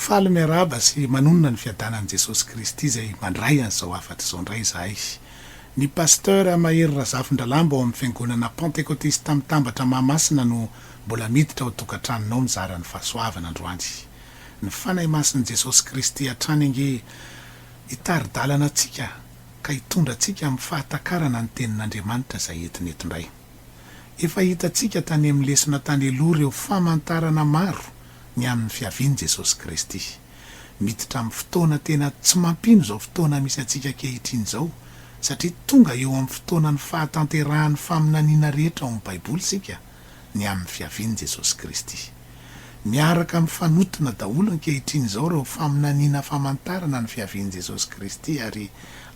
Faly miarahaba sy manonona ny fiadanan'i Jesosy Kristy izay mandray an'izao hafatra izao indray izahay. Ny Pasteur Mahery Razafindralambo ao amin'ny Fiangonana Pantekotista Mitambatra Mahamasina no mbola miditra ao tokantranonao mizara ny fahasoavana androany. Ny Fanahy Masin'i Jesosy Kristy hatrany ange hitari-dalana antsika ka hitondra antsika amin'ny fahatakarana ny Tenin'Andriamanitra izay entiny eto indray. Efa hitantsika tany amin'ny lesona tany aloha ireo famantarana maro ny amin'ny fiavian'i Jesosy Kristy. Miditra amin'ny fotoana tena tsy mampino izao fotoana misy antsika ankehitriny izao, satria tonga eo amin'ny fotoanan'ny fahatanterahan'ny faminaniana rehetra ao amin'ny Baiboly isika, ny amin'ny fiavian'i Jesosy Kristy. Miaraka mifanotona daholo ankehitriny izao ireo faminaniana famantarana ny fiavian'i Jesosy Kristy ary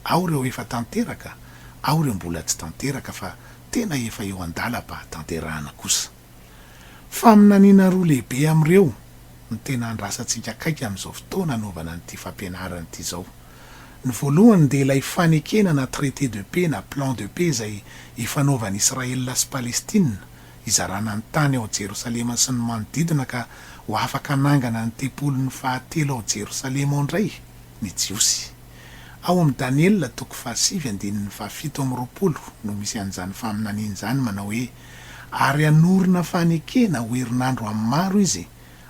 ao ireo efa tanteraka, ao ireo mbola tsy tanteraka fa tena efa eo an-dalam-pahatanterahana kosa. Faminaniana roa lehibe amin'ireo no tena andrasantsika akaiky amin'izao fotoana anaovana an'ity fampianarana ity izao. Ny voalohany dia ilay fanekena na traité de paix na plan de paix izay ifanaovan'i Israël sy Palestina hizarana ny tany ao Jerosalema sy ny manodidina ka ho afaka hanangana ny tempoliny fahatelo ao Jerosalema ao indray ny Jiosy. Ao amin'i Daniela toko fahasivy andininy fahafito amby roapolo no misy an'izany faminaniana izany manao hoe, ary hanorina fanekena ho herinandro amin'ny maro izy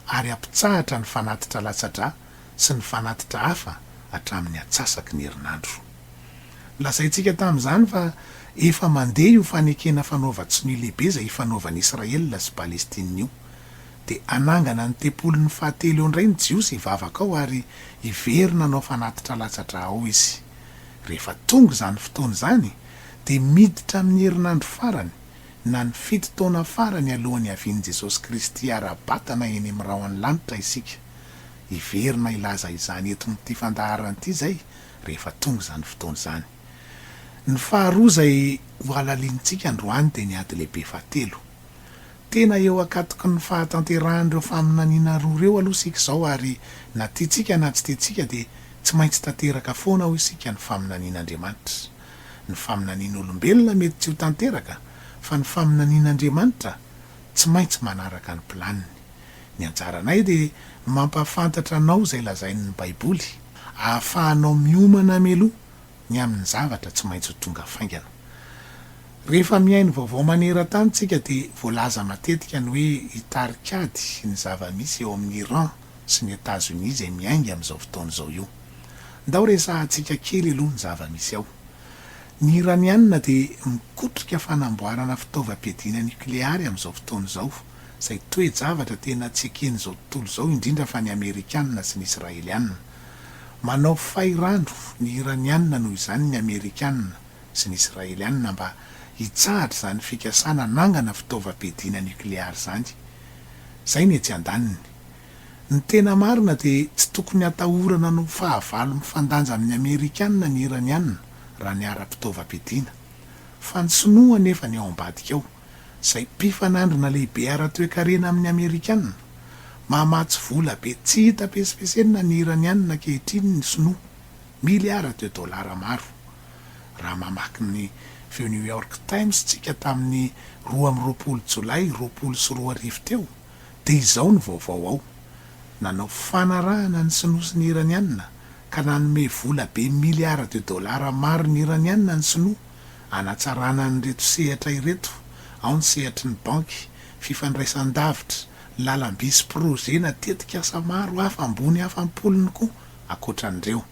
ary hampitsahatra ny fanatitra latsa-drà sy ny fanatitra hafa hatramin'ny atsasaky ny herinandro. Nolazaintsika tamin'izany fa efa mandeha io fanekena fanaovan-tsonia lehibe izay ifanaovan'i Israel sy Palestina io. Dia hanangana ny tempoliny fahatelo eo indray ny Jiosy hivavaka ao ary hiverina hanao fanatitra latsa-drà ao izy. Rehefa tonga izany fotoana izany, dia miditra amin'ny herinandro farany na ny fito taona farany alohan'ny havian'i Jesosy Kristy hara-batana eny amin'ny rahon'ny lanitra isika. Hiverina hilaza izany eto amin'ity fandaharana ity izay rehefa tonga izany fotoana izany. Ny faharoa izay hohalalinintsika androany dia ny ady lehibe fahatelo. Tena eo ankatoky ny fahatanterahan'ireo faminaniana roa ireo aloha isika izao ary na tiantsika na tsy tiantsika dia tsy maintsy tanteraka foana hoy isika ny faminanian'Andriamanitra. Ny faminanian'olombelona mety tsy ho tanteraka fa ny faminanian'Andriamanitra tsy maintsy manaraka ny planiny. Ny anjaranay dia mampahafantatra anao izay lazain'ny Baiboly ahafahanao miomana mialoha. ny amin'ny zavatra tsy maintsy ho tonga faingana. Rehefa mihaino vaovao maneran-tany isika dia voalaza matetika ny hoe i tarik'ady sy ny zava-misy eo amin'i Iran sy ny Etazonia izay miainga amin'izao fotoana izao io. Ndao resahantsika kely aloha ny zava-misy ao. Ny Iraniana dia mikotrika fanamboarana fitaovam-piadiana nokleary amin'izao fotoana izao, izay toe-javatra tena tsy eken'izao tontolo izao indrindra fa ny Amerikana sy ny Israeliana. Manao fay rano ny Iraniana noho izany ny Amerikana sy ny Israeliana mba hitsahatra izany fikasana hanangana fitaovam-piadiana nukleary izany. Izay ny etsy andaniny. Ny tena marina dia tsy tokony hatahorana hanao fahavalo mifandanja amin'ny Amerikana ny Iraniana raha ny ara-pitaovam-piadiana. Fa ny Sinoa anefa ny ao ambadika ao izay mpifanandrina lehibe ara-toekarena amin' ny Amerikana, mahamatsy vola be tsy hita pesimpesenina ny Iraniana ankehitriny ny Sinoa, miliara de dolara maro, raha mamaky ny feo New York Times tsika tamin' ny roa amby roapolo Jolay roapolo sy roa arivo teo dia izao ny vaovao ao, Nanao fanarahana ny Sinoa sy ny Iraniana ka nanome vola be miliara de dolara maro ny Iraniana ny Sinoa Hanatsarana an'ireto sehatra ireto, ao ny sehatry ny banky, fifandraisan-davitra, lalam-by sy projet na tetik'asa maro hafa ambony hafa am-polony koa ankoatra an'ireo.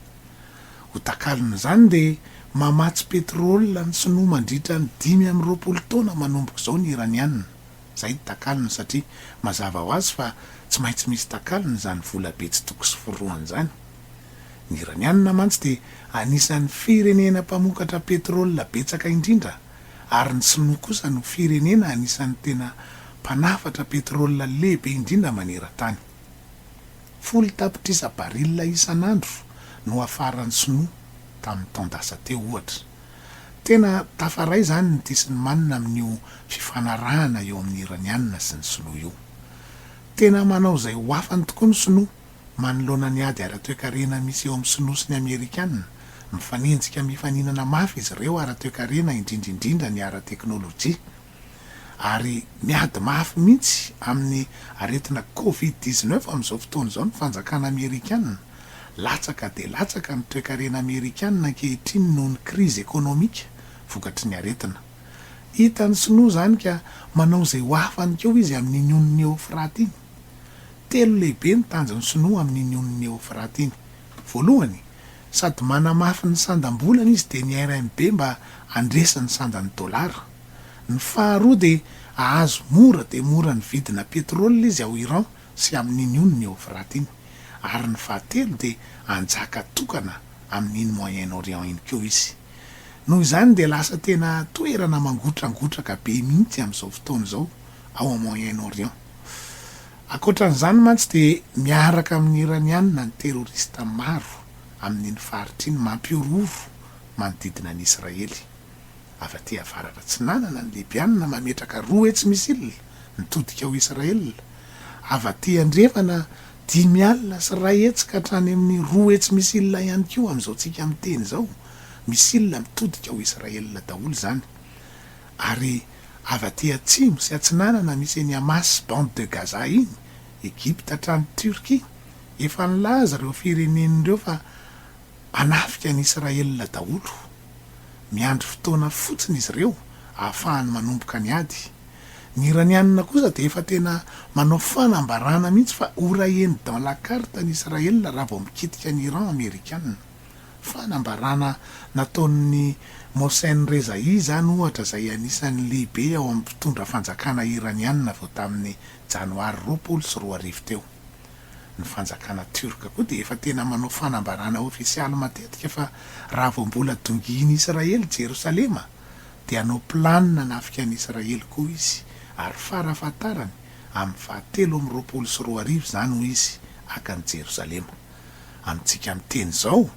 Ho takalon'izany dia mamatsy petrole ny sinoa mandritra ny dimy amby roapolo taona manomboka izao ny iraniana. Izay ny takalony satria mazava ho azy fa tsy maintsy misy takalony izany volabe tsy toko sy forohany izany. Ny Iraniana mantsy dia anisan'ny firenena mpamokatra petrole betsaka indrindra ary ny Sinoa kosa no firenena anisan'ny tena mpanafatra petrole lehibe indrindra maneran-tany. Folo tapitrisa baril isan'andro no afaran'ny Sinoa tamin'ny taon-dasa teo, ohatra. Tena tafaray izany ny disin'i Mann amin'io fifanarahana eo amin'ny Iraniana sy ny Sinoa io. Tena manao izay ho afany tokoa ny Sinoa manoloana ny ady ara-toekarena misy eo amin'ny Sinoa sy ny Amerikana, mifanenjika mifaninana mafy izy ireo ara-toekarena indrindra indrindra ny ara-teknolojia. Ary miady mafy mihitsy amin'ny aretina covid dix-neuf amin'izao fotoana izao ny fanjakana Amerikana. Latsaka dia latsaka ny toekarena Amerikana ankehitriny noho ny krizy ekonomika vokatry ny aretina. Hitan'ny Sinoa izany ka manao izay ho afany koa izy amin'iny ony ny Eofrate iny. Telo lehibe ny tanjon'ny Sinoa amin'iny onin'i Eofraty iny. Voalohany, sady manamafy ny sandam-bolany izy dia ny RMB mba handresy ny sandan'ny dolara. Ny faharoa dia hahazo mora dia mora ny vidina petrole izy ao Iran sy amin'iny onin'i Eofraty iny. Ary ny fahatelo dia hanjaka tokana amin'iny Moyen Orient iny koa izy. Noho izany dia lasa tena toerana mangotrangotraka be mihitsy amin'izao fotoana izao ao Moyen Orient. Ankoatra an'izany mantsy dia miaraka amin'ny Iraniana ny terorista maro amin'iny faritra iny mampihorohoro manodidina an'i Israely. Avy aty avaratra atsinanana ny Libyana mametraka roa hetsy missile mitodika ao Israel. Avy aty andrefana dimy alina sy iray hetsy ka hatrany amin'ny roa hetsy missile ihany koa amin'izao tsika miteny izao. Missile mitodika ao Israel daholo izany. Ary avy aty atsimo sy atsinanana misy eny Hamas, Bande de Gaza iny, Egypta hatrany Turquie, efa nilaza ireo firenena ireo fa hanafika an'i Israël daholo. Miandry fotoana fotsiny izy ireo ahafahany manomboka ny ady. Ny Iranianina kosa dia efa tena manao fanambarana mihitsy fa ho raeny dans la carte an'i Israël raha vao mikitika an'i Iran Amerikanina. Fanambarana nataon'i Mohsen Rezaei izany ohatra izay anisan'ny lehibe ao amin'ny mpitondra fanjakana Iraniana avy eo tamin'ny Janoary roapolo sy roa arivo teo. Ny fanjakana Tiorka koa dia efa tena manao fanambarana ofisialy matetika fa raha vao mbola dongian'i Israely Jerosalema dia hanao planina hanafika an'i Israely koa izy ary fara fahatarany amin'ny faha telo amby roapolo sy roa arivo izany hoy izy haka an'i Jerosalema. amintsika miteny izao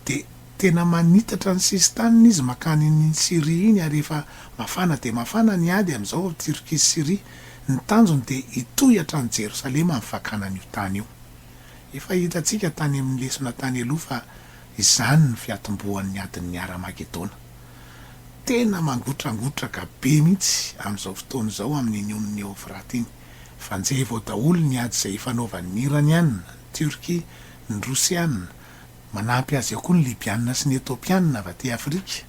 dia tena manitatra ny sisin-taniny izy mankany iny Syria iny ary efa mafana dia mafana ny ady amin'izao ao Turquie sy Syria. Ny tanjony dia hitohy hatrany Jerosalema ny fakana an'io tany io. Efa hitantsika tany amin'ny lesona tany aloha fa izany ny fiatombohan'ny adin'ny Hara-magedona. Tena mangotrangotraka be mihitsy amin'izao fotoana izao amin'iny onin'i Eofrata iny. Fanjevo ao daholo ny ady izay ifanaovan'ny Iraniana, Tiorkia, ny Rosiana, manampy azy eo koa ny Libiana sy ny Etopiana avy aty Afrika.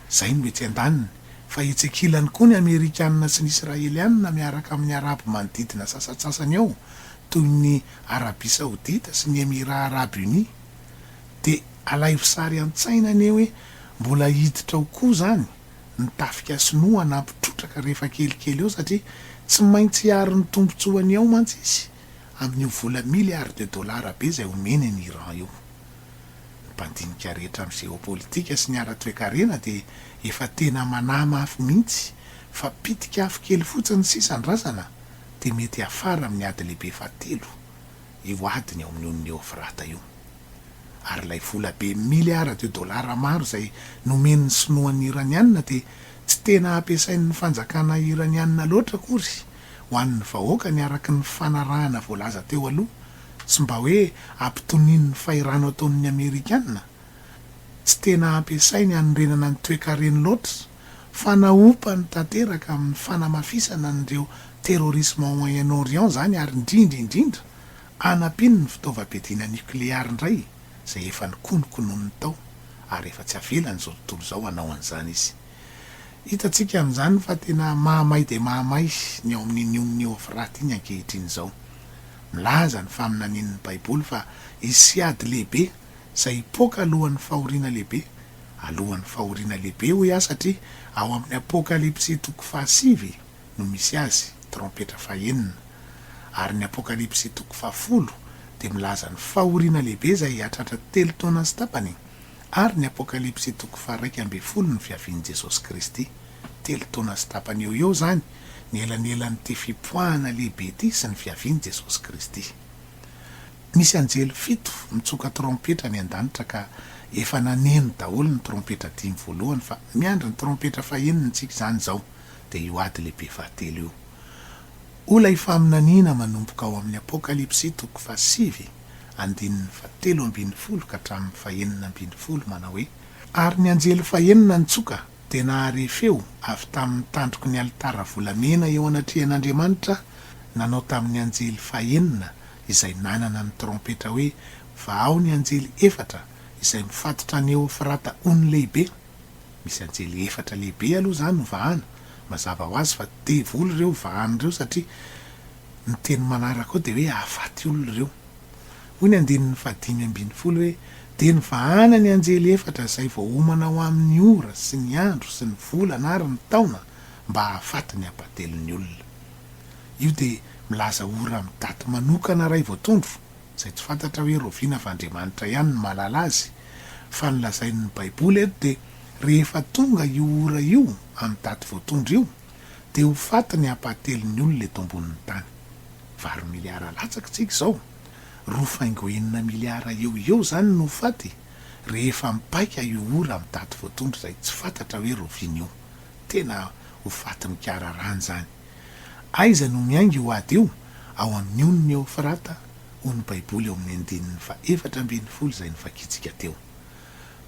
Izay no etsy andaniny. Fa etsy ankilany koa ny Amerikana sy ny Israeliana miaraka amin'ny Arabo manodidina sasantsasany ao toy ny Arabia Saodita sy ny Emirats Arabes Unis. Dia alaivo sary an-tsaina anie hoe mbola hiditra ao koa izany ny tafika sinoa hanampy trotraka rehefa kelikely eo satria tsy maintsy hiaro ny tombontsoany ao mantsy izy. Amin'io vola milliards de dollars be izay omeny an'i Iran io. Ny mpandinika rehetra amin'ny géopolitique sy ny ara-toekarena dia efa tena manahy mafy mihitsy fa pitika afo kely fotsiny sisa ny razana dia mety hiafara amin'ny ady lehibe fahatelo, io adiny ao amin'ny ony Neofrata io. Ary ilay vola be milliards de dollars maro izay nomen'ny sinoa ny Iraniana dia tsy tena ampiasain'ny fanjakana Iraniana loatra akory ho an'ny vahoaka ny araka ny fanarahana voalaza teo aloha, tsy mba hoe ampitonian'ny fahirano ataon'ny Amerikana, tsy tena ampiasainy hanorenana ny toekareny loatra, fa naompany tanteraka amin'ny fanamafisana an'ireo terrorisme ao Moyen Orient izany ary indrindra indrindra anampiany ny fitaovam-piadiana nucléaire indray izay efa nokonokonoiny tao ary efa tsy avelany izao tontolo izao hanao an'izany izy. Hitantsika amin'izany fa tena mahamay dia mahamay ny ao amin'iny onona Eofrata iny ankehitriny izao. Milaza ny faminanian'ny Baiboly fa hisy ady lehibe izay hipoaka alohan'ny fahoriana lehibe. Alohan'ny fahoriana lehibe, hoy aho, satria ao amin'ny Apokalypsy toko fahasivy no misy azy, trompetra fahenina. Ary ny Apokalypsy toko fahafolo dia milaza ny fahoriana lehibe izay hahatratra telo taona sy tapany, ary ny Apokalypsy toko faharaika ambin'ny folo ny fiavian'i Jesosy Kristy. Telo taona sy tapany eo ho eo izany ny elanelan'ity fipoahana lehibe ity sy ny fiavian'i Jesosy Kristy. Misy anjely fito mitsoka trompetra any an-danitra ka efa naneno daholo ny trompetra dimy voalohany fa miandry ny trompetra faheniny tsika izany izao dia io ady lehibe fahatelo io. O ilay faminaniana manomboka ao amin'ny Apokalypsy toko fahasivy! andininy fahatelo ambin'ny folo ka hatramin'ny fahenina ambin'ny folo manao hoe, Ary ny anjely fahenina nitsoka dia nahare feo avy tamin'ny tandroky ny alitara volamena eo anatrehan'Andriamanitra nanao tamin'ny anjely fahenina izay nanana ny trompetra hoe, Vahao ny anjely efatra izay mifatotra an'i Eofrata ony lehibe. Misy anjely efatra lehibe aloha izany ho vahana. Mazava ho azy fa devoly ireo vahany ireo satria Ny teny manaraka ao dia hoe hahafaty olona ireo. Hoy ny andininy fahadimy ambin'ny folo hoe, Dia nivahana ny anjely efatra izay voaomana ho amin'ny ora sy ny andro sy ny volana ary ny taona mba hahafaty ny hampatelin'ny olona. Io dia milaza ora amin'ny daty manokana iray voatondro, izay tsy fantatra hoe rahoviana fa Andriamanitra ihany no mahalala azy, fa ny lazain'ny Baiboly eto dia rehefa tonga io ora io amin'ny daty voatondro io, dia ho faty ny ampahatelon'ny olona eto ambonin'ny tany. Valo miliara latsaky tsika izao. Roa faingo enina miliara eo ho eo izany no ho faty rehefa mipaika io ora amin'ny daty voatondro izay tsy fantatra hoe roviana io. Tena ho faty mikararàna izany. Aiza no miainga io ady io? Ao amin'ny ony ny Eofrata, hoy ny Baiboly ao amin'ny andininy fahefatra ambin'ny folo izay novakintsika teo.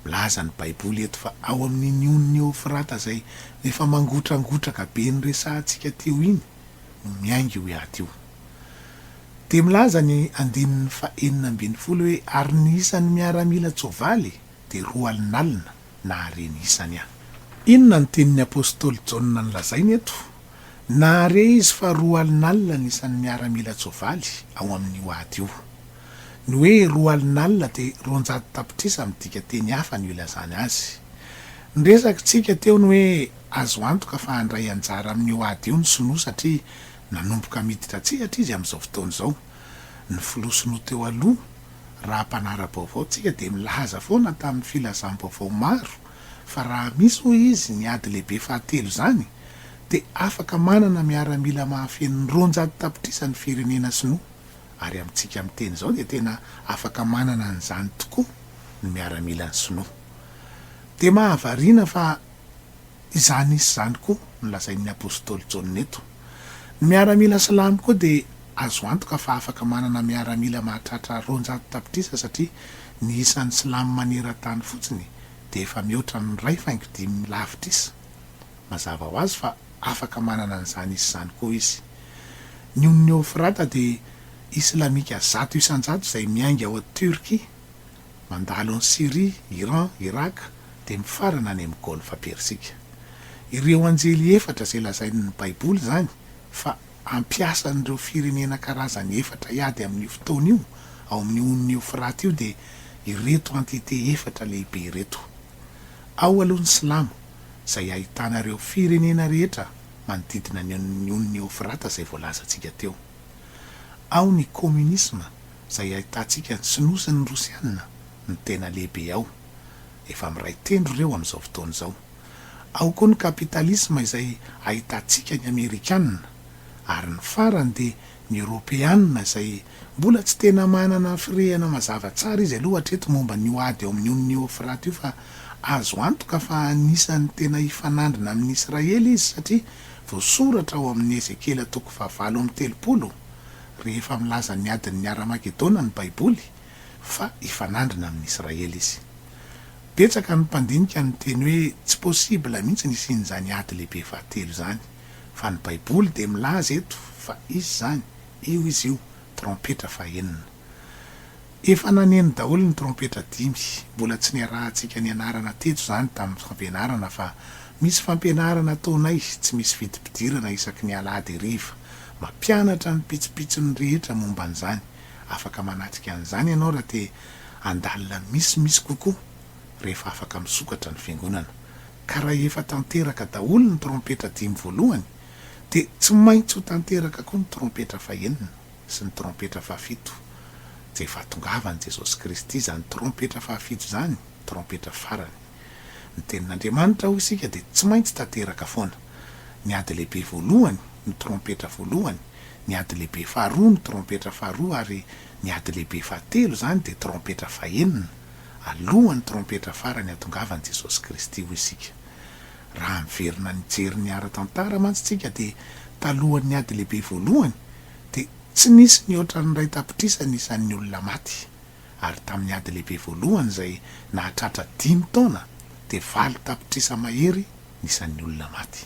Milaza ny Baiboly eto fa ao amin'iny onin'i Eofrata izay efa mangotrangotraka be noresahantsika teo iny no miainga io hiaty io. Dia milaza ny andininy fahenina ambin'ny folo hoe, Ary ny isan'ny miaramilan-tsoavaly dia roa alinalina, nahare ny isany aho. Inona no tenin'ny apostoly Jaona nolazainy eto? Nahare izy fa roa alinalina ny isan'ny miaramilan-tsoavaly ao amin'io ady io. Ny hoe roa alin'alina dia roanjato tapitrisa midika teny hafa no ilazana azy. Ny resakitsika teo ny hoe azo antoka fa handray anjara amin'io ady io ny Sinoa satria nanomboka miditra an-tsehatra izy amin'izao fotoana izao. Ny filoha Sinoa teo aloha, raha mpanara-baovao tsika dia milaza foana tamin'ny filazam-baovao maro fa raha misy hoy izy ny ady lehibe fahatelo izany dia afaka manana miaramila mahafeno ny roanjato tapitrisa ny firenena Sinoa. ary amintsika miteny izao dia tena afaka manana an'izany tokoa ny miaramilan'ny sinoa. Dia mahavariana fa izany hisy izany koa no lazain'ny apostoly Jaona eto. Ny miaramila silamo koa dia azo antoka fa afaka manana miaramila mahatratra roanjato tapitrisa satria ny isan'ny silamo maneran-tany fotsiny dia efa mihoatra amin'ny iray faingo dimy lavitrisa. Mazava ho azy fa afaka manana an'izany isa izany koa izy. Ny ony Neofrata dia Islamika zato isan-jato izay miainga ao Turquie, mandalo an'i Syrie, Iran, Irak, dia mifarana any amin'ny Golfa Persika. Ireo anjely efatra izay lazain'ny Baiboly izany fa ampiasan'ireo firenena karazany efatra hiady amin'io fotoana io ao amin'ny ony Neofrata io dia ireto antite efatra lehibe ireto. Ao aloha ny silamo izay ahitana ireo firenena rehetra manodidina ny ny ony Eofrata izay voalazantsika teo. Ao ny kominisma izay ahitantsika ny sinoa sy ny rosianina no tena lehibe ao. Efa miray tendro ireo amin'izao fotoana izao. Ao koa ny kapitalisma izay ahitantsika ny amerikanina ary ny farany dia ny eoropeanina izay Mbola tsy tena manana firehana mazava tsara izy aloha hatreto momba an'io ady eo amin'ny onin'i Eofraty io fa azo antoka fa anisan'ny tena hifanandrina amin'i Israely izy satria voasoratra ao amin'ny Ezekiela toko fahavalo amby telopolo rehefa milaza ny adin'ny Haramagedona ny Baiboly fa hifanandrina amin'i Israely izy. Betsaka ny mpandinika no miteny hoe tsy possible mihitsy ny hisian'izany ady lehibe fahatelo izany fa ny Baiboly dia milaza eto fa hisy izany. Io izy io, trompetra fahenina. Efa naneno daholo ny trompetra dimy. Mbola tsy niarahantsika nianarana teto izany tamin'ny fampianarana fa misy fampianarana ataonay tsy misy vidim-pidirana isaky ny alahady hariva. Mampianatra ny pitsopitsony rehetra momba an'izany. Afaka manatrika an'izany ianao raha te handalina misimisy kokoa rehefa afaka misokatra ny fiangonana. Ka raha efa tanteraka daholo ny trompetra dimy voalohany Dia tsy maintsy ho tanteraka koa ny trompetra fahenina sy ny trompetra fahafito, dia efa hatongavan'i Jesosy Kristy izany trompetra fahafito izany, trompetra farany. Ny Tenin'Andriamanitra, hoy isika, dia tsy maintsy tanteraka foana. Ny ady lehibe voalohany, ny trompetra voalohany, ny ady lehibe faharoa, ny trompetra faharoa, ary ny ady lehibe fahatelo izany dia trompetra fahenina, alohan'ny trompetra farany hatongavan'i Jesosy Kristy, hoy isika. Raha miverina nijery ny ara-tantara mantsy tsika dia talohan'ny ady lehibe voalohany dia tsy nisy nihoatra ny iray tapitrisa ny isan'ny olona maty ary tamin'ny ady lehibe voalohany izay nahatratra dimy taona dia valo tapitrisa mahery ny isan'ny olona maty.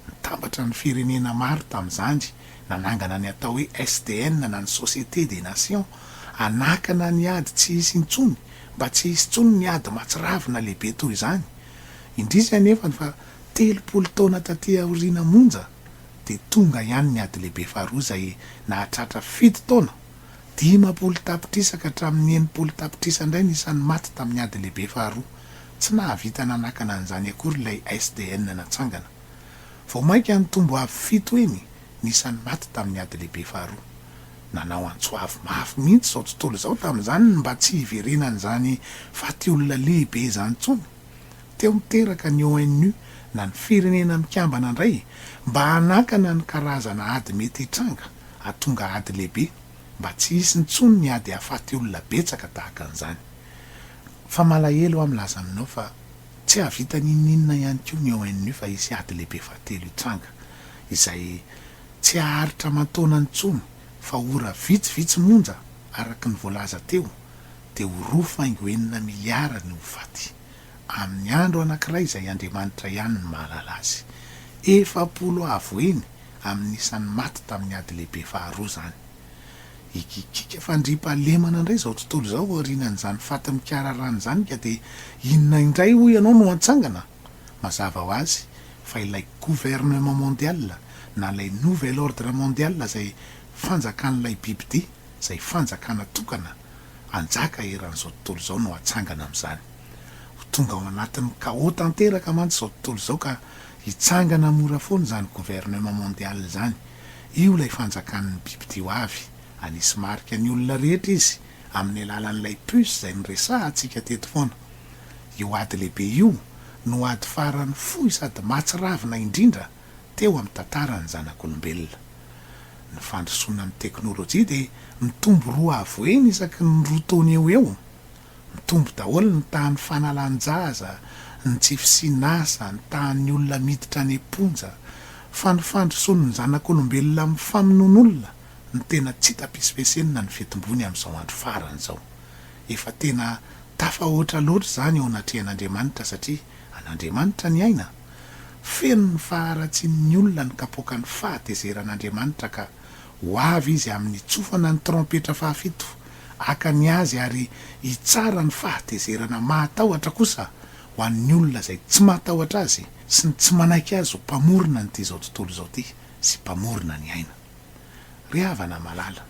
Nitambatra ny firenena maro tamin'izany nanangana ny atao hoe SDN na ny Société des Nations hanakana ny ady tsy hisy intsony mba tsy hisy intsony ny ady mahatsiravina lehibe toy izany. Indrisy anefany fa telopolo taona taty aoriana monja dia tonga ihany ny Ady Lehibe Faharoa izay nahatratra fito taona, dimampolo tapitrisa ka hatramin'ny enimpolo tapitrisa indray ny isan'ny maty tamin'ny Ady Lehibe Faharoa. Tsy nahavita nanakana an'izany akory ilay SDN natsangana. Vao mainka nitombo avo fito heny ny isan'ny maty tamin'ny Ady Lehibe Faharoa. Nanao antso avo mafy mihitsy izao tontolo izao tamin'izany ny mba tsy hiverenan'izany faty olona lehibe izany intsony. Teo niteraka ny ONU na ny Firenena Mikambana indray mba hanakana ny karazana ady mety hitranga hahatonga ady lehibe mba tsy hisy intsony ny ady hahafaty olona betsaka tahaka an'izany. Fa malahelo aho milaza aminao fa tsy hahavita n'inon'inona ihany koa ny ONU fa hisy ady lehibe fahatelo hitranga izay Tsy haharitra aman-taonany intsony fa ora vitsivitsy monja araka ny voalaza teo dia ho roa faingo enina miliara ny ho faty. Amin'ny andro anankiray izay Andriamanitra ihany no mahalala azy. Efapolo avo eny amin'ny isan'ny maty tamin'ny ady lehibe faharoa izany. Hikikiaka fandriampahalemana indray izao tontolo izao aorianan'izany faty mikararana izany ka dia inona indray hoy ianao no hantsangana? Mazava ho azy fa ilay gouvernement mondial na ilay nouvel ordre mondial izay fanjakan'ilay bibidia, izay fanjakana tokana hanjaka eran'izao tontolo izao no hatsangana amin'izany. Ho tonga ao anatin'ny chaos tanteraka mantsy izao tontolo izao ka hitsangana mora foana izany gouvernement mondial izany. Io ilay fanjakan'ny bibidia ho avy, hanisy marika ny olona rehetra izy amin'ny alalan'ilay puce izay noresahantsika teto foana. Io ady lehibe io no ady farany fohy sady mahatsiravina indrindra teo amin'ny tantaran'ny zanak'olombelona. Ny fandrosoana amin'ny teknolojia dia mitombo roa avoheny isaky ny roa taona eo ho eo. Mitombo daholo ny tahan'ny fanalan-jaza, ny tsy fisian'asa, ny tahan'ny olona miditra any am-ponja. Fa ny fandrosoan'ny zanak'olombelona amin'ny famonoan'olona no tena tsy tapis-pesenina ny fitombony amin'izao andro farany izao. Efa tena tafahoatra loatra izany eo anatrehan'Andriamanitra satria an'Andriamanitra ny aina. Feno ny faharatsian'ny olona ny kapoakan'ny fahatezeran'Andriamanitra ka ho avy Izy amin'ny tsofana ny trompetra fahafito, haka ny Azy ary hitsara ny fahatezerana mahatahotra kosa ho an'ny olona izay tsy matahotra Azy sy ny tsy manaiky Azy ho Mpamorona an'ity izao tontolo izao ity sy Mpamorona ny aina. Ry havana malala,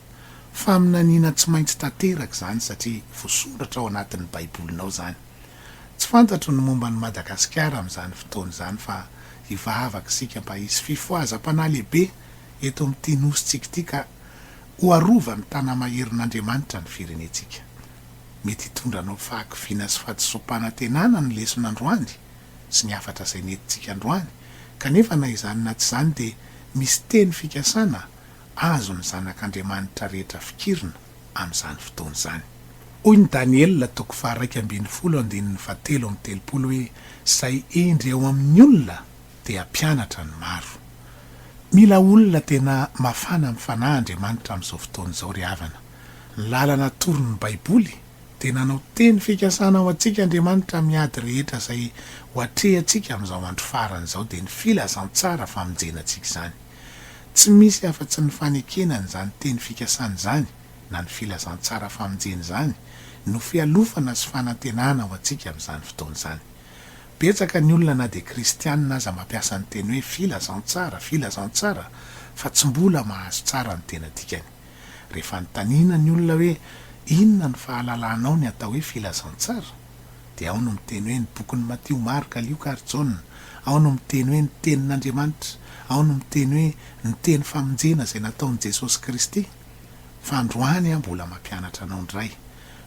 faminaniana tsy maintsy tanteraka izany satria voasoratra ao anatin'ny baibolinao izany. Tsy fantatro ny momba an'i Madagasikara amin'izany fotoana izany fa hivavaka isika mba hisy fifohazam-panahy lehibe eto amin'ity nosintsika ity ka ho arovan'ny tana-maherin'Andriamanitra ny firenentsika. Mety hitondra anao fahakiviana sy fahadisoam-panantenana ny lesona androany. sy ny hafatra izay nentintsika androany, kanefa na izany na tsy izany dia misy teny fikasana azon'ny zanak'Andriamanitra rehetra fikirina amin'izany fotoana izany. Hoy ny Daniela toko faharaika ambin'ny folo andininy fahatelo amby telopolo hoe, Izay hendry ao amin'ny olona dia hampianatra ny maro. Mila olona tena mafana amin'ny fanahy Andriamanitra amin'izao fotoana izao ry havana. Ny lalana atoron'ny Baiboly dia nanao teny fikasana ho antsika Andriamanitra amin'ny ady rehetra izay ho atrehantsika amin'izao andro farany izao dia ny filazantsara famonjena antsika izany. Tsy misy afa-tsy ny fanekena an'izany teny fikasana izany na ny filazantsara famonjena izany no fialofana sy fanantenana ho antsika amin'izany fotoana izany. Betsaka ny olona na dia kristianina aza mampiasa ny teny hoe filazantsara, filazantsara fa tsy mbola mahazo tsara ny tena dikany. Rehefa anontaniana ny olona hoe inona no fahalalanao ny atao hoe filazantsara? dia ao no miteny hoe ny bokin'i Matio, Marka, Lioka ary Jaona, ao no miteny hoe ny Tenin'Andriamanitra, ao no miteny hoe ny teny famonjena izay nataon'i Jesosy Kristy. Fa androany aho mbola mampianatra anao indray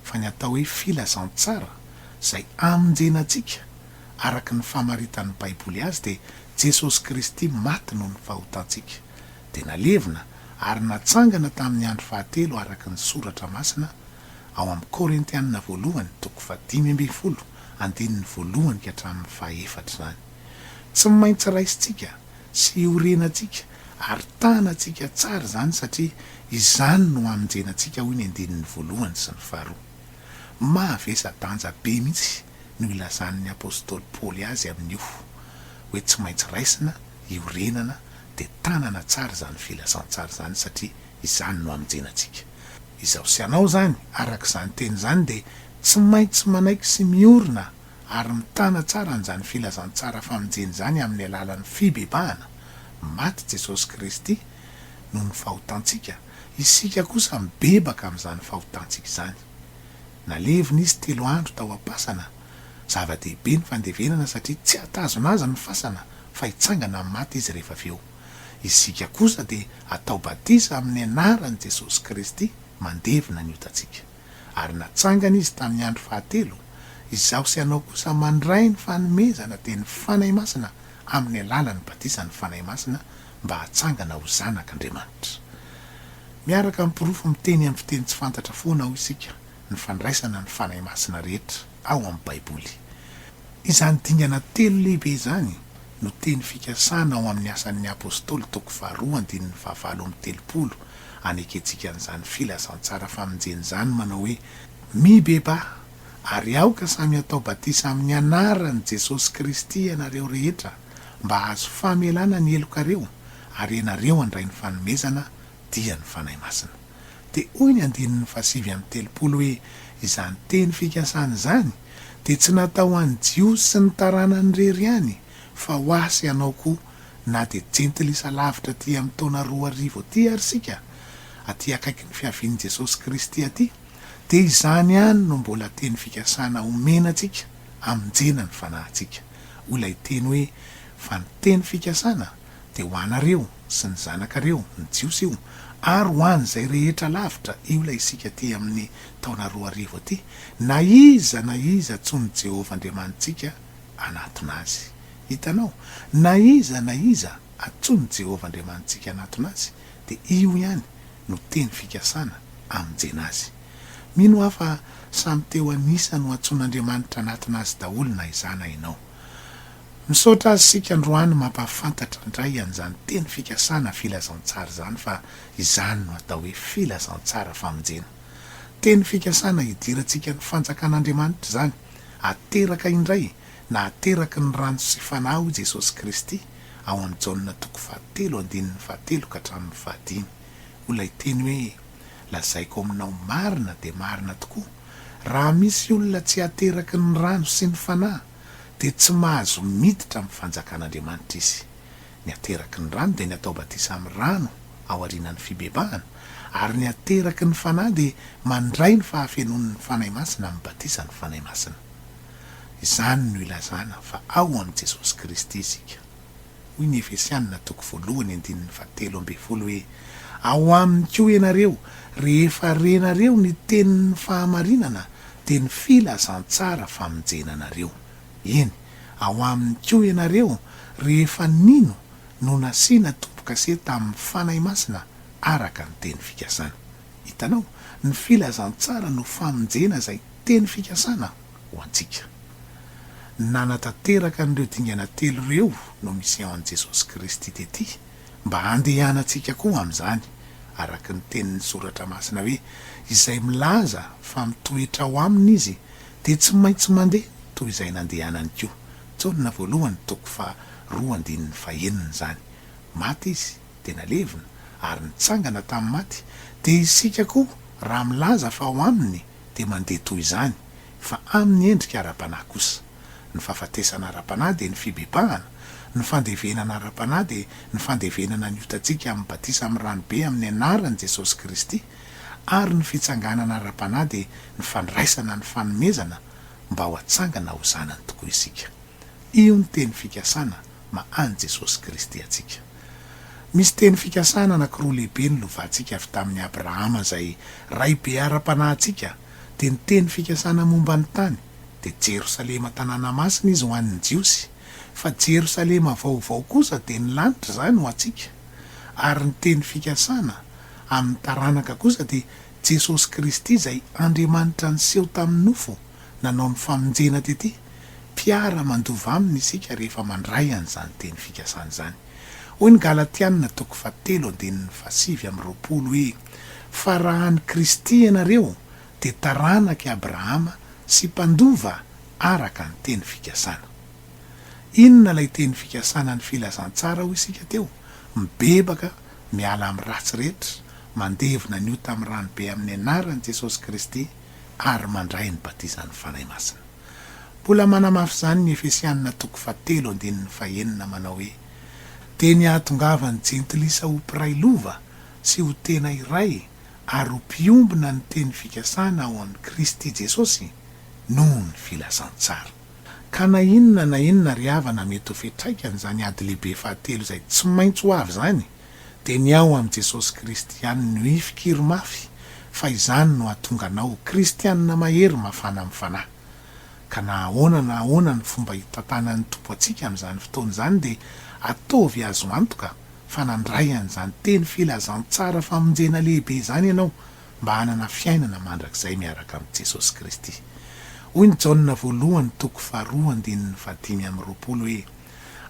fa ny atao hoe filazantsara izay amonjena antsika araka ny famaritan'ny Baiboly azy dia Jesosy Kristy maty noho ny fahotantsika. dia nalevina ary natsangana tamin'ny andro fahatelo araka ny Soratra Masina ao amin'ny Korintianina Voalohany toko fahadimy ambin'ny folo andininy voalohany ka hatramin'ny fahefatra izany. Tsy maintsy raisintsika sy orenantsika ary tanantsika tsara izany satria izany no hamonjenantsika hoy ny andininy voalohany sy ny faharoa. Mavesa-danja be mihitsy no ilazan'ny apostoly Paoly azy amin'io hoe tsy maintsy raisina, iorenana, dia tanana tsara izany filazantsara izany satria izany no hamonjenantsika. Izaho sy ianao izany, araka izany teny izany, dia tsy maintsy manaiky sy miorina ary mitana tsara an'izany filazantsara famonjena izany amin'ny alalan'ny fibebahana maty Jesosy Kristy noho ny fahotantsika, isika kosa mibebaka amin'izany fahotantsika izany. Nalevina izy telo andro tao am-pasana. Zava-dehibe ny fandevenana satria tsy hatazona azy ny fasana fa hitsangana amin'ny maty izy rehefa avy eo. Isika kosa dia atao batisa amin'ny anaran'i Jesosy Kristy mandevina ny otantsika. Ary natsangana izy tamin'ny andro fahatelo. Izaho sy ianao kosa mandray ny fanomezana dia ny Fanahy Masina amin'ny alalan'ny batisan'ny Fanahy Masina mba hatsangana ho zanak' Andriamanitra. Miaraka amin'ny porofo miteny amin'ny fiteny tsy fantatra foana ao isika, ny fandraisana ny Fanahy Masina rehetra ao amin'ny Baiboly. Izany dingana telo lehibe izany no teny fikasana ao amin'ny Asan'ny Apôstôly toko faharoa andininy fahavalo amby telopolo anekentsika an'izany filazantsara famonjena izany manao hoe, Mibebaha, ary aoka samy hatao batisa amin'ny anaran'i Jesosy Kristy ianareo rehetra, mba hahazo famelana ny helokareo ary ianareo handray ny fanomezana dia ny Fanahy Masina. Dia hoy ny andininy fahasivy amby telopolo hoe izany teny fikasana izany dia tsy natao ho an'ny Jiosy sy ny taranany irery ihany fa ho ahy sy anao koa na dia jentilisa lavitra aty amin'ny taona roa arivo aty ary isika aty akaikin'ny fiavian'i Jesosy Kristy aty dia izany ihany no mbola teny fikasana omena antsika hamonjena ny fanahintsika. hoy ilay teny hoe, Fa ny teny fikasana dia ho anareo sy ny zanakareo, ny Jiosy io, ary ho an'izay rehetra lavitra, io ilay isika aty amin'ny taona roa arivo aty, na iza na iza antsoin'i Jehovah Andriamanitsika hanatona azy. Hitanao? Na iza na iza antsoin'i Jehovah Andriamanitsika hanatona azy, dia io ihany no teny fikasana hamonjena azy. Mino aho fa samy teo an'isa no antsoin'Andriamanitra anatina azy daholo na izaho na ianao. Misaotra Azy isika androany mampahafantatra indray an'izany teny fikasana filazantsara izany fa izany no atao hoe filazantsara famonjena. Teny fikasana hidirantsika ny fanjakan'Andriamanitra izany, ateraka indray na ateraky ny rano sy Fanahy hoy Jesosy Kristy ao amin'i Jaona toko fahatelo andininy fahatelo ka hatramin'ny fahadimy. Ho ilay teny hoe Lazaiko aminao marina dia marina tokoa, raha misy olona tsy ateraky ny rano sy ny Fanahy, dia tsy mahazo miditra amin'ny fanjakan'Andriamanitra izy. Ny ateraky ny rano dia ny atao batisa amin'ny rano aorianan'ny fibebahana, ary ny ateraky ny Fanahy dia mandray ny fahafenoan'ny Fanahy Masina amin'ny batisan'ny Fanahy Masina. Izany no ilazana fa ao amin'i Jesosy Kristy isika. Hoy ny Efesianina toko voalohany andininy fahatelo ambin'ny folo hoe, Ao aminy koa ianareo, rehefa renareo ny tenin'ny fahamarinana, dia ny filazantsara famonjena anareo. Eny, ao aminy koa ianareo, rehefa nino no nasiana tombo-kase tamin'ny Fanahy Masina araka ny teny fikasana. Hitanao, ny filazantsara no famonjena izay teny fikasana. ho antsika. Ny nanatanteraka an'ireo dingana telo ireo no misean'i Jesosy Kristy tety mba handehanantsika koa amin'izany, araka ny tenin'ny Soratra Masina hoe, Izay milaza fa mitoetra ao aminy izy dia tsy maintsy mandeha toy izay nandehanany koa. Jaona voalohany toko faha roa andininy faha enina izany. Maty izy dia nalevina ary nitsangana tamin'ny maty, dia isika koa raha milaza fa ao aminy dia mandeha toy izany, fa amin'ny endrika ara-panahy kosa. Ny fahafatesana ara-panahy dia ny fibebahana, ny fandevenana ara-panahy dia ny fandevenana ny otantsika amin'ny batisa amin'ny ranobe amin'ny anaran'i Jesosy Kristy, ary ny fitsanganana ara-panahy dia ny fandraisana ny fanomezana mba ho hatsangana ho zanany tokoa isika. Io ny teny fikasana ma an'i Jesosy Kristy antsika. Misy teny fikasana anankiroa lehibe nolovantsika avy tamin'i Abrahama izay raibe ara-panahintsika, dia ny teny fikasana momba ny tany, dia Jerosalema tanàna masina izy ho an'ny Jiosy, fa Jerosalema vaovao kosa dia ny lanitra izany ho antsika, ary ny teny fikasana amin'ny taranaka kosa dia Jesosy Kristy izay Andriamanitra niseho tamin'ny nofo. nanao ny famonjena tety, mpiara mandova aminy isika rehefa mandray an'izany teny fikasana izany. Hoy ny Galatiana toko fahatelo andininy fahasivy amby roapolo hoe, Fa raha an'i Kristy ianareo dia taranak'i Abrahama sy mpandova araka ny teny fikasana. Inona ilay teny fikasana ny filazantsara hoy isika teo, mibebaka miala amin'ny ratsy rehetra, mandevina ny ota amin'ny ranobe amin'ny anaran'i Jesosy Kristy, ary mandray ny batizan'ny Fanahy Masina. Mbola manamafy izany ny Efesianina toko fahatelo andininy fahenina manao hoe, Dia ny hahatongavan'ny Jentilisa ho mpiray lova sy ho tena iray ary ho mpiombona ny teny fikasana ao amin'i Kristy Jesosy no ny filazantsara. Ka na inona na inona ry havana mety ho fiantraikan'izany ady lehibe fahatelo izay tsy maintsy ho avy izany, Dia ny ao amin'i Jesosy Kristy ihany no hifikiry mafy fa izany no hahatonga anao ho kristianina mahery mafana amin'ny fanahy. Ka na ahoana na ahoana ny fomba hitantanan'ny Tompo antsika amin'izany fotoana izany dia ataovy azo antoka fa nandray an'izany teny filazantsara famonjena lehibe izany ianao mba hanana fiainana mandrakizay miaraka amin'i Jesosy Kristy. Hoy ny Jaona voalohany toko faharoa andininy fahadimy amby roapolo hoe.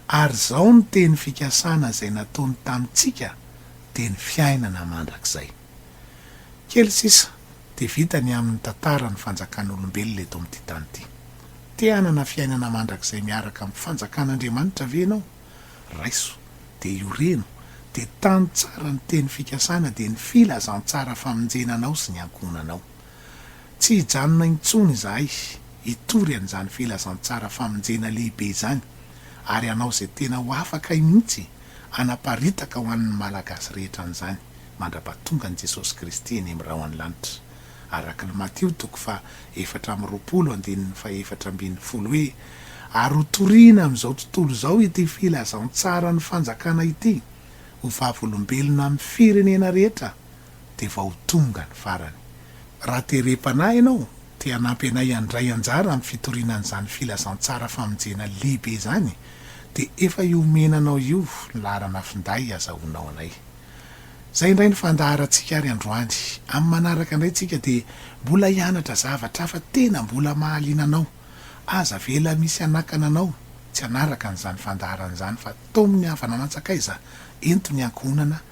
ary izao ny teny fikasana izay nataony tamintsika dia ny fiainana mandrakizay. Kely sisa dia vita ny amin'ny tantara ny fanjakan'olombelona eto amin'ity tany ity. Te hanana fiainana mandrakizay miaraka amin'ny fanjakan'Andriamanitra ve ianao? Raiso dia ioreno dia tano tsara ny teny fikasana dia ny filazantsara famonjena anao sy ny ankohonanao. Tsy hijanona intsony izahay hitory an'izany filazantsara famonjena lehibe izany ary hanao izay tena ho afakay mihitsy hanaparitaka ho an'ny Malagasy rehetra an'izany mandra-pahatongan'i Jesosy Kristy eny amin'ny rahon'ny lanitra. Arak'lhy Matio toko faha efatra amby roapolo andininy faha efatra ambin'ny folo hoe, Ary ho toriana amin'izao tontolo izao ity filazantsaran'ny fanjakana ity ho vavolombelona amin'ny firenena rehetra, dia vao tonga ny farany. Raha terem-panahy ianao, te hanampy anay handray anjara amin'ny fitoriana an'izany filazantsara famonjena lehibe izany, dia efa io omena anao io ny laharana finday hazahoanao anay. Izay indray ny fandaharantsika ary androany. Amin'ny manaraka indray tsika dia mbola hianatra zavatra hafa tena mbola mahaliana anao. Aza avela misy hanakana anao tsy hanaraka an'izany fandaharana izany fa tao amin'ny havanana antsakaiza ento ny ankohonana